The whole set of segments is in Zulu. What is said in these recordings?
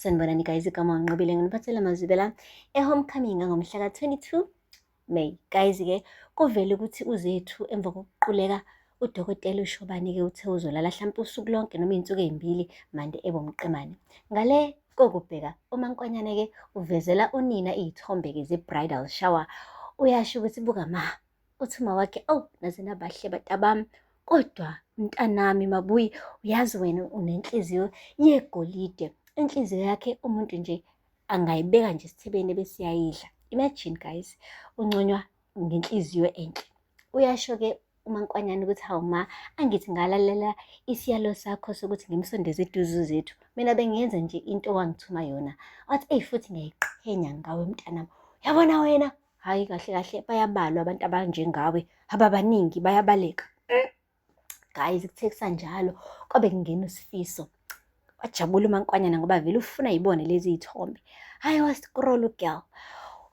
Sanibonani guys, igama wanqobile nginiphathela amazwibela e-homecoming ngomhla ka-22 May. Guys-ke kuvele ukuthi uZethu emva kokuquleka udokotela uShobane-ke uthe uzolala hlampe usuku lonke noma iy'nsuku ey'mbili mande ebomqemane. Ngale kokubheka uMankonyane-ke uvezela unina iy'thombe-ke ze-bridal shower uyasho ukuthi buka ma uthi mawakhe awu naze nabahle batabami kodwa mntanami mabuyi uyazi wena unenhliziyo yegolide inhliziyo yakhe umuntu nje angayibeka nje esithebeni bese yayidla imagine guys unconywa ngenhliziyo enhle uyasho ke umankwanyana ukuthi hawu ma angithi ngalalela isiyalo sakho sokuthi ngimsondeze iduzu zethu mina bengenza nje into owangithuma yona wathi eyi futhi ngiyayiqhenya ngawe mntanami yabona wena Hhayi kahle kahle bayabalwa abantu abanjengawe, ababaningi bayabaleka. Eh. Guys kuthe kusanjalo kwabe kungena uSifiso. Wajabula uMankwanyana ngoba vele ufuna yibone lezi y'thombe. Hhayi wa-scroll u-girl.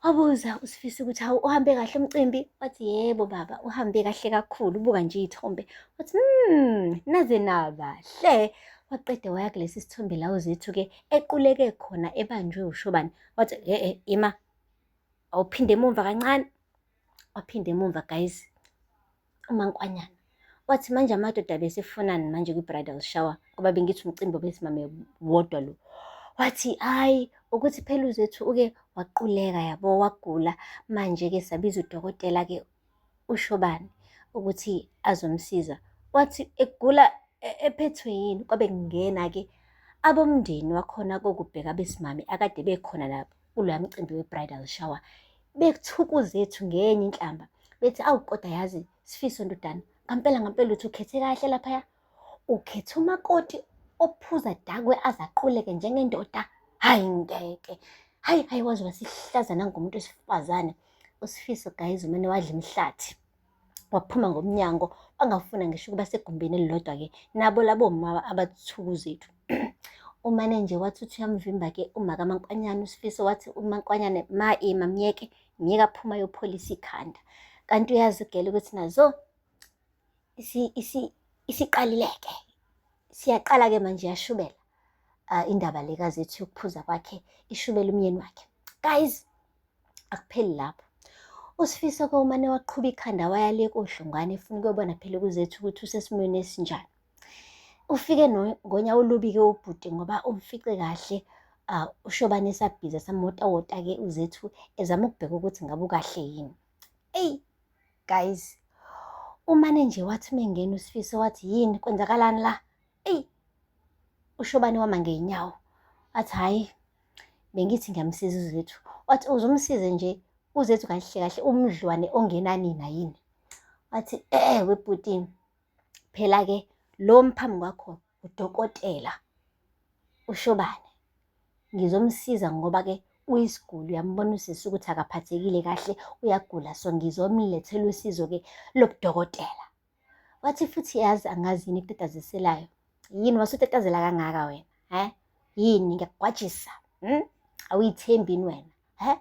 Wabuza uSifiso ukuthi hawu uhambe kahle umcimbi? Wathi yebo baba uhambe kahle kakhulu. Ubuka nje iy'thombe. Wathi hmm, naze nabahle. Waqeda waya kulesi sithombe la uZethu-ke equleke khona ebanjwe uShobane. Wathi e-e ima awuphinde emumva kancane waphinde emumva guys umankwanyana wathi manje amadoda besefunani manje kwi-bridal shower ngoba bengithi umcimbi obesimame wodwa lo wathi hayi ukuthi phela uzethu uke waquleka yabo wagula manje-ke sabiza udokotela-ke ushobani ukuthi azomsiza wathi egula e-, ephethwe yini kwabe kungena-ke abomndeni wakhona kokubheka besimame akade bekhona la kuloya mcimbi we-bridal shower bekuthukuzethu ngenye inhlamba bethi awu kodwa yazi sifiso ndodana ngampela ngampela uthi ukhethe kahle laphaya Ukhetha umakoti ophuza dakwe aze aquleke njengendoda hayi ngeke hayi hayi waze wasihlaza nangomuntu wesifazane usifiso guys umane wadla imihlathi waphuma ngomnyango bangafuna ngisho ukuba segumbini elilodwa ke nabo labo mama abathuku zethu umane nje wathi uthi uyamvimba ke umaka mankwanyana usifiso wathi umankwanyane ma ema myeke myeka phuma yopholisa ikhanda kanti uyazi ugele ukuthi nazo isiqalileke siyaqala-ke manje yashubela uh, indaba le kazethu yokuphuza kwakhe ishubela umyeni wakhe guys akupheli lapho usifiso ke umane waqhuba ikhanda waya le kodlongwane efuna ukuyobona phela kuzethu ukuthi usesimweni esinjani ufike ngonya olubi-ke ubhuti ngoba umfice kahle uh, ushobane esabhiza samotawota-ke uzethu ezama ukubheka ukuthi ngabe ukahle yini eyi guys umane nje wathi uma engena usifiso wathi yini kwenzakalani la eyi ushobani wama ngey'nyawo wathi hhayi bengithi ngiyamsiza uzethu wathi uzomsize nje uzethu kahle kahle umdlwane ongenanina yini wathi eh webhutini phela-ke lo mphambi kwakho udokotela ushobane ngizomsiza ngoba ke uyisiguli uyambona usisi ukuthi akaphathekile kahle uyagula so ngizomlethela usizo ke lobudokotela wathi futhi yazi angazi yini kutataziselayo yini wasutatazela kangaka wena he yini ngiyakugwajisa hmm? awuyithembi yini wena he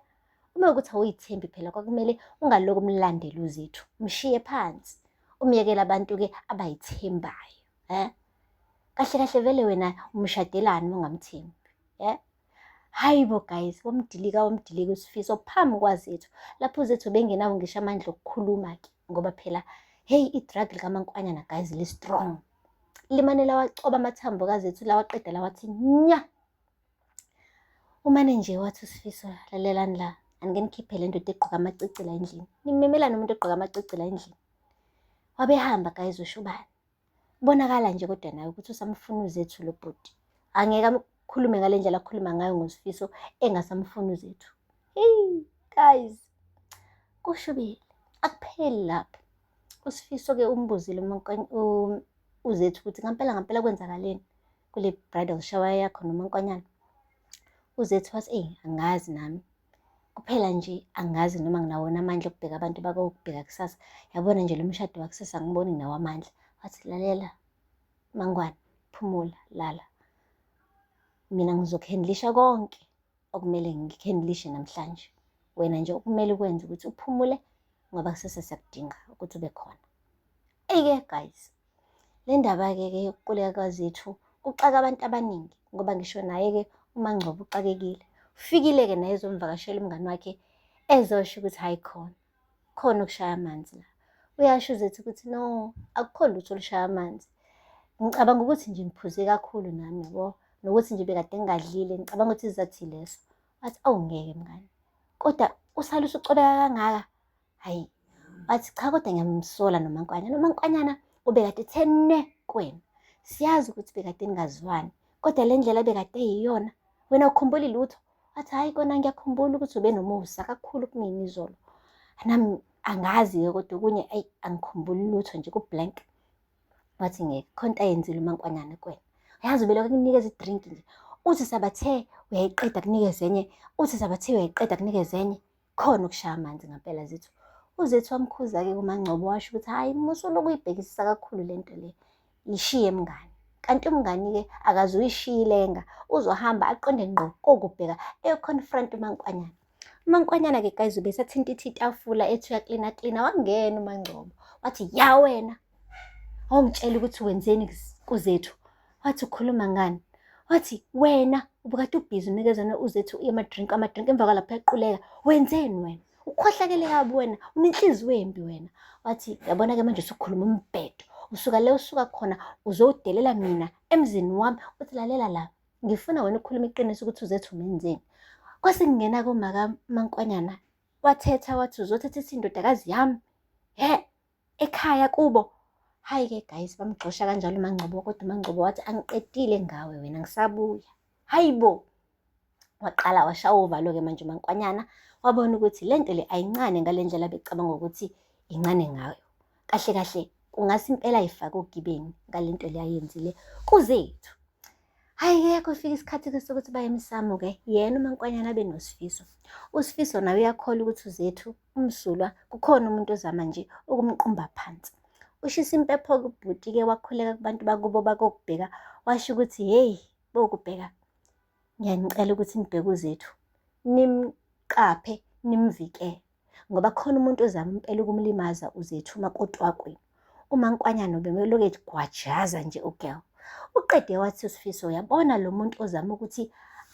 uma ukuthi awuyithembi phela kwakumele ungaloku umlandela uzethu mshiye phansi umyekela abantu-ke abayithembayo eh kahle kahle vele wena umshadelani ungamthembi eh hayi bo guys womdilika womdilika usifiso phambi kwazethu lapho uzethu bengenawo ngisho amandla okukhuluma ke ngoba phela heyi i-drug likamankwanyana guys li-strong limane lawacoba amathambo kazethu lawaqeda lawathi nya umane nje wathi usifiso lalelani la anike nikhiphe le ndoda egqoka amacicila endlini nimemelani umuntu egqoka amacicila endlini wabehamba guys ushubane Kubonakala nje kodwa nawe ukuthi usamfuna uZethu lo bhuti. Angeke akhulume ngale ndlela akhuluma ngayo ngoSifiso engasamfuni uZethu. Hey guys. Kushubile. Akupheli lapho. USifiso ke umbuzile uZethu ukuthi ngampela ngampela kwenzakaleni kule bridal shower yakho nomankwanyana. UZethu wathi, "Eyi angazi nami." Kuphela nje angazi noma nginawona amandla okubheka abantu bakokubheka kusasa. Yabona nje lo mshado wakusasa angiboni nginawo amandla. Wathi, lalela Mangwane, phumula, lala. Mina ngizokhendlisha konke okumele ngikhendlishe namhlanje. Wena nje okumele ukwenze ukuthi uphumule ngoba kusasa siyakudinga ukuthi ube khona. Eye guys, Le ndaba-ke ke yokuquleka kwaZethu kuxaka abantu abaningi ngoba ngisho naye-ke uMangcobo uxakekile. Ufikile-ke naye ezomvakashela umngani wakhe ezosho ukuthi hhayi khona, khona okushaya amanzi la. Uyasho uZethu ukuthi no, akukho lutho olushaya amanzi. Ngicabanga ukuthi nje ngiphuze kakhulu nami yabo, nokuthi nje bekade ngingadlile, ngicabanga ukuthi isizathu yileso. Wathi, awu ngeke mngani, kodwa usale usucobeka kangaka, hayi bathi cha kodwa ngiyamsola nomankwanyana umankwanyana ubekade thene kwena siyazi ukuthi bekade ningazwani kodwa le ndlela bekade yiyona wena ukhumbuli lutho athi hhayi kona ngiyakhumbula ukuthi ube nomusa kakhulu kumina izolo nami angazi-ke kodwa okunye ayi angikhumbuli lutho nje kublank wathi ngeke khonto ayenzile umankwanyana kwena uyazi ubelokhu kunikeza idrink nje uthi sabathe uyayiqeda kunikeza enye uthi sabathe uyayiqeda kunikeza enye khona ukushaya amanzi ngampela zethu uzethu wamkhuza-ke kumangcobo washo ukuthi hhayi musuloku uyibhekisisa kakhulu le nto le yishiye mngani kanti umngani-ke akaze uyishiyilenga uzohamba aqonde ngqo kokubheka eyoconfront umankwanyana umankwanyana-ke guys ubesathinta ithi itafula ethi uyaklina klina wangena umangcobo wathi ya wena Awungitshela ukuthi wenzeni kus- kuZethu. Wathi ukhuluma ngani? Wathi wena ubukade ubhizi unikezana uZethu amadrink amadrink emva kwalapho yaquleka. Wenzeni wena? Ukhohlakele kabi wena, unenhliziyo embi wena. Wathi yabona ke manje usukhuluma umbhedo. Usuka le usuka khona uzowudelela mina emzini wami. Uthi lalela la. Ngifuna wena ukukhuluma iqiniso ukuthi uZethu umenzeni. Kwase kungena komaka Mankwanyana wathetha wathi uzothetha isindodakazi yami. He, ekhaya kubo hayi ke guys bamgxosha kanjalo umangcobo kodwa umangcobo wathi angiqedile ngawe wena ngisabuya hayi bo waqala washawa uvalo-ke manje umankwanyana wabona ukuthi le nto le ayincane ngale ndlela becabanga ukuthi incane ngayo kahle kahle kungase impela ifake ogibeni ngale nto le ayenzile kuzethu hhayi-ke kufika isikhathi-ke sokuthi baye emsamo-ke yena umankwanyana abe nosifiso usifiso naye uyakhola ukuthi uzethu umsulwa kukhona umuntu ozama nje ukumqumba phansi ushisa impepho kubhuti-ke wakhuleka kubantu bakubo bakokubheka washo ukuthi hheyi bokubheka ngiyanicela ukuthi nibheke uzethu nimqaphe nimvikele ngoba khona umuntu ozama impela ukumlimaza uzethu uma kotwakweni uma nkwanyana ubemeloke gwajaza nje ugirl uqede wathi usifiso uyabona lo muntu ozama ukuthi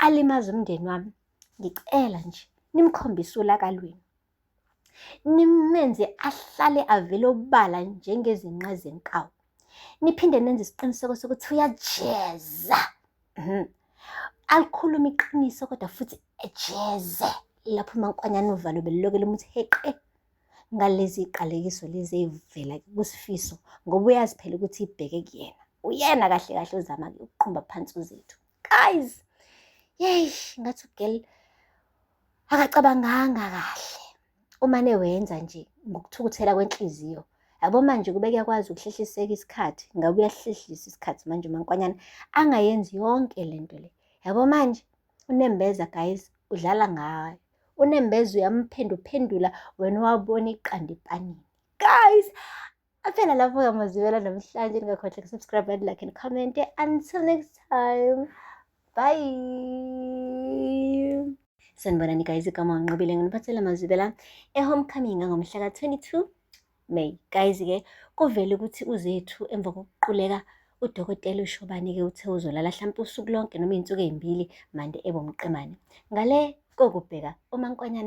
alimaze umndeni wami Ngicela nje nimkhombise ulaka lwenu, nimenze ahlale avele obala njengezinqa zenkawu, niphinde nenze isiqiniseko sokuthi uyajeza mhm. alikhulume iqiniso kodwa futhi ejeze lapho umankwanyana uvalo belilokele umuthi heqe ngalezi iqalekiso lezi eyivela kusifiso ngoba uyazi phela ukuthi ibheke kuyena uyena kahle kahle ozama-ke ukuqhumba phansi uzethu guys yeyi ngathi ugirl akacabanganga kahle umane wenza nje ngokuthukuthela kwenhliziyo yabo manje kube kuyakwazi ukuhlehliseka isikhathi ngabe uyahlehlisa isikhathi manje umankwanyana angayenzi yonke le nto le yabo manje unembeza guys udlala ngayo unembeza uyamphenduphendula wena wabona iqanda epanini guys Aphela lapho ngamazibela namhlanje ningakhohlwa kusubscribe and like and comment until next time bye sanibonani guys igama nginqobile nginiphathela amazibela ehomecoming angomhla ka-22 may guys ke kuvele ukuthi uzethu emva kokuquleka udokotela ushobane-ke uthe uzolala hlampe usuku lonke noma iy'nsuku ey'mbili mande ebomqemane ngale kokubheka umankonyana